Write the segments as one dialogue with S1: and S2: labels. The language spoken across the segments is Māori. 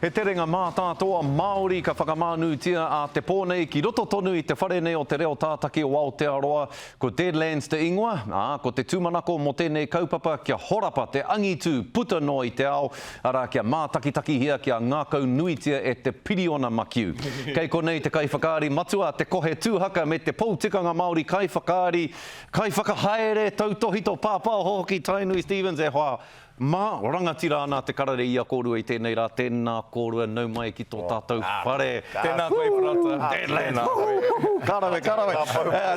S1: He terenga mātātoa Māori ka whakamānūtia a Te Pō nei ki roto tonu i te whare nei o te reo tātaki o Aotearoa, ko Deadlands te ingoa, ā, ko te tūmanako mō tēnei kaupapa kia horapa te angitu puta noa i te ao, arā, kia mātakitakihia, kia ngākau nuitia e te piriona makiu. Kei konei te kaiwhakaari matua, te kohe tūhaka me te pou tikanga Māori kaiwhakaari, kaiwhakahaere, tautōhito, pāpāho hoki Tainui Stephens e hoa, Mā, rangatira ana te karere i a kōrua i tēnei rā, tēnā kōrua nau mai ki tō tātou whare. Tēnā koe Parata.
S2: Tēnā koe.
S1: Ka rawe, ka rawe.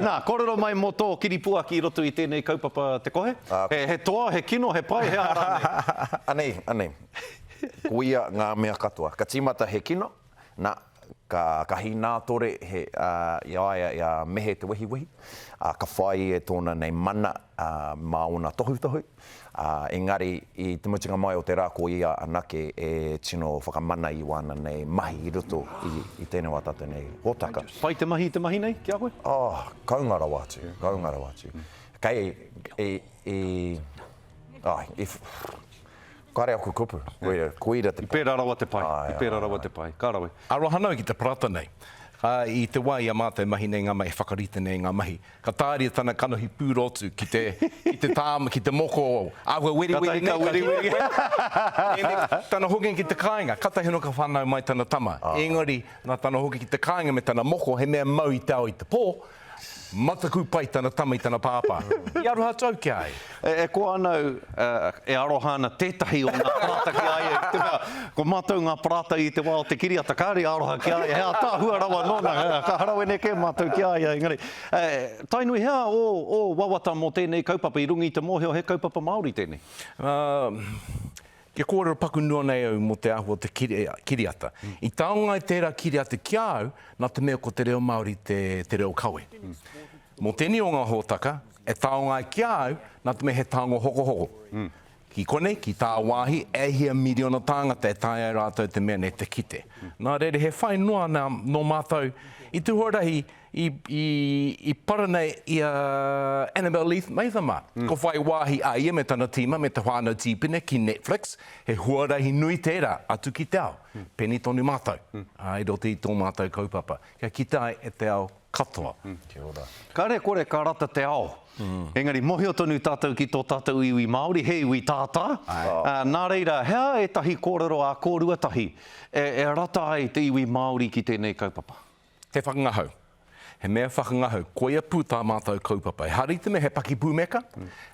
S1: Nā, kōrero mai mō tō kiripuaki i roto i tēnei kaupapa Te Kohe. He toa, he kino, he pai, he aha rānei? Anei,
S3: anei. Koia ngā mea katoa. Ka tīmata he kino, nā, Ka, ka hīnātore he, ā, i a ia, i a Mehe Te Wehiwehi, ā, ka whāia e tōna nei mana, ā, mā ōna tohutohu, ā, engari i te mutunga mai o te rā ko ia anake e tino whakamana i wāna nei mahi i roto i, i tēnei wā tātou nei hōtaka. Pai te mahi i te mahi
S1: nei ki a koe? Oh, kounga rawa
S3: atu, kounga rawa atu. Kei, i, i, ai, i, Kāre aku kupu, koia, koira te pai. I pērā rawa te pai, i
S1: pērā rawa te pai. Ka rawe. Aro aha nau ki te parata
S2: nei. Ā, i te wā i a mātou e mahi nei ngā mahi, e whakarite nei ngā mahi, ka tāria tana kanohi pūrotu ki te, ki te tāma, ki te moko, āhua weriweri nei, ka hīhī koe. Engari, tana hokinga ki te kāinga, kātahi anō ka whānau mai tana tama. Engari, nā tana hoki ki te kāinga me tana moko, he mea mau i te ao i te pō, Mataku pai tana tama i tana pāpā. I aroha atu au ki a ia. E koa ana au,
S1: e aroha ana tētahi o ngā parāta ki a ia, i te mea, ko mātou ngā parāta i te wā o te kiriata, kāore i aroha ki a ia, he ātaahua rawa nōna, ka harawene kē mātou ki a ia, engari, tae nui hea ō wawata mō tēnei kaupapa i runga i te mōhio he kaupapa Māori tēnei?
S2: Kia kōrero paku noa nei au mō te āhua o te kiriata. I taunga ai tērā kiriata ki a au nā te mea ko te reo Māori te reo kawe. Mō tēnei o ngā hōtaka e taunga ai ki a au nā te mea he tango hokohoko. Ki konei, ki tāwāhi, e hia miriona tāngata e taea ai rātou te mea nei te kite. Nā reira, he whai noa nō mātou i te huarahi I para nei i a Annabelle Leith Maithama, ka whai wāhi a ia me tana tīma me te whānau tīpene ki Netflix, he huarahi nui tērā atu ki te ao. Pēnei tonu mātou i roto i tō mātou kaupapa, kia kite ai e te ao katoa. Kia ora.
S3: Kare kore ka rata
S1: te ao, engari mohio tonu tātou ki tō tātou iwi Māori, he iwi tātā, nā reira, he aha ētahi kōrero ā kōrua tahi e rata ai te iwi Māori ki tēnei kaupapa? He whakangahau.
S2: He mea whakangahau, koia pū tā mātou kaupapa. Ehara i te mea he pakipūmeka,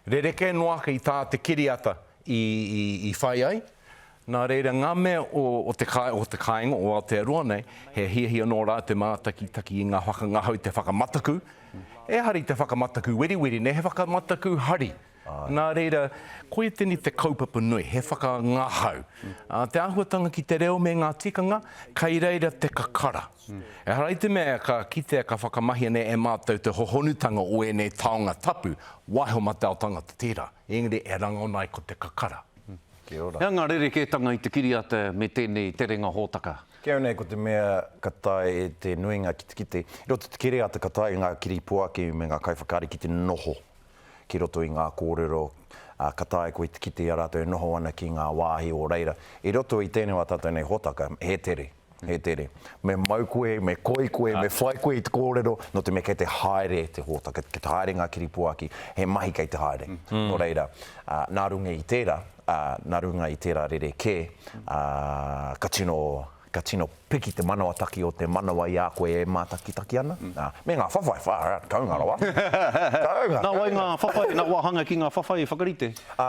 S2: rerekē noa ake i tā te kiriata i whai ai. Nā reira, ngā mea o te kāinga o Aotearoa nei, he hiahia nō rātou te mātakitaki i ngā whakangahau, te whakamataku. Ehara i te whakamataku weriweri nei, he whakamataku hari. Nā reira, koia tēnei te kaupapa nui, he whakangahau. Te āhuatanga ki te reo me ngā tikanga, kei reira te kakara. Ehara i te mea ka kitea ka whakamahia nei e mātou te hohonutanga o ēnei taonga tapu, waiho mate ao tangata tērā, engari e rangona ai ko te kakara. Kia ora. He anga
S3: rerekētanga i
S1: te kiriata me tēnei terenga hōtaka. Kei au nei ko te mea
S3: ka tae e te nuinga ki te kite, i roto i te kiriata ka tae e ngā kiripuaki me ngā kaiwhakaari ki te noho. ki roto i ngā kōrero ka taea koe te kite i a rātou e noho ana ki ngā wāhi o reira. I roto i tēnei o ā tātou nei hōtaka, he tere, he tere. Me mau koe, me koi koe, me whai koe i te kōrero, nō te mea kei te haere te hōtaka, kei te haere ngā kiripuaki, he mahi kei te haere. Nō reira, nā runga i tērā, nā runga i tērā rerekē, ka tino Ka tino piki te manawataki o te manawa i a koe e mātakitaki ana, ā, me ngā whawhai, far out, kounga rawa. Kounga! Nā
S1: wai ngā whawhai, nā wāhanga ki ngā whawhai i whakarite? Ā,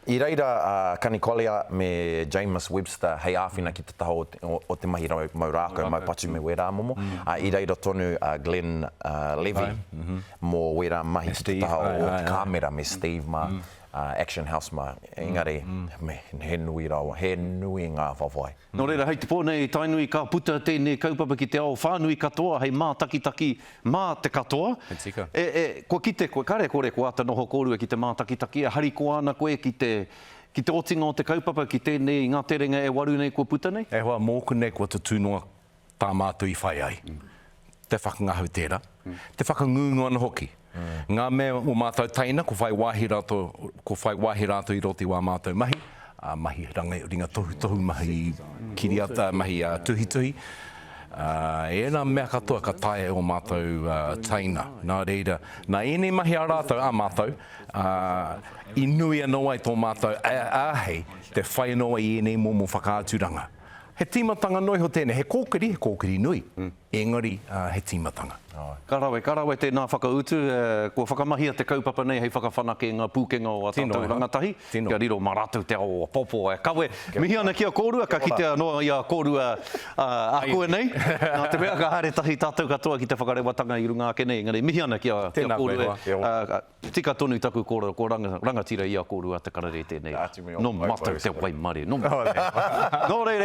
S1: i
S3: reira a Kani Collier me Jamus Webster hei āwhina ki te taha o te, o te mahi rau, mau rākau, mau patu me wērā momo, ā, i reira tonu a Glenn Levy mō wērā mahi ki te taha o te kāmera me Steve mā, Action House mā, engari he nui rawa, he nui ngā whawhai. Nō reira, hei te pō nei,
S1: Tainui ka puta tēnei kaupapa ki te ao whānui katoa hei mātakitaki mā te katoa. He tika. Kua kite koe, kare kore kua āta noho kōrua ki te mātakitaki, e harikoa ana koe ki te, ki te otinga o te kaupapa, ki tēnei i ngā terenga e waru nei kua puta nei? E hoa, mōku nei kua
S2: tatū noa Tā mātou i whai ai, te whakangahau tērā, te whakangungu ana hoki. Ngā mea o mātou teina, ko whai wāhi rātou, ko whai wāhi rātou i roto i wā mātou mahi, ā, mahi ranga ringa tohutohu, mahi kiriata, mahi tuhituhi, ā, ērā mea katoa ka taea e ō mātou teina. Nā reira, nā ēnei mahi a rātou, a mātou, ā, i nui anō ai tō mātou āhei te whai anō ai i ēnei momo whakaaturanga. He tīmatanga noa iho tēnei, he kōkiri, he kōkiri nui, engari he tīmatanga. Ka rawe, ka rawe
S1: tēnā whakautu. Kua whakamahia te kaupapa nei hei whakawhanake i ngā pūkenga o ā tātou rangatahi, kia riro mā rātou te ao o apoapo e kawe. Mihi ana ki a kōrua, ka kitea noa i a kōrua ākuanei, nā te mea ka haere tahi tātou katoa ki te whakarewatanga i runga ake nei, engari mihi ana ki a kōrua e. Tika tonu taku kōrero, ko rangatira i a kōrua te karere tēnei. Nō mātou te waimarie. Nō mātou. Nō reira.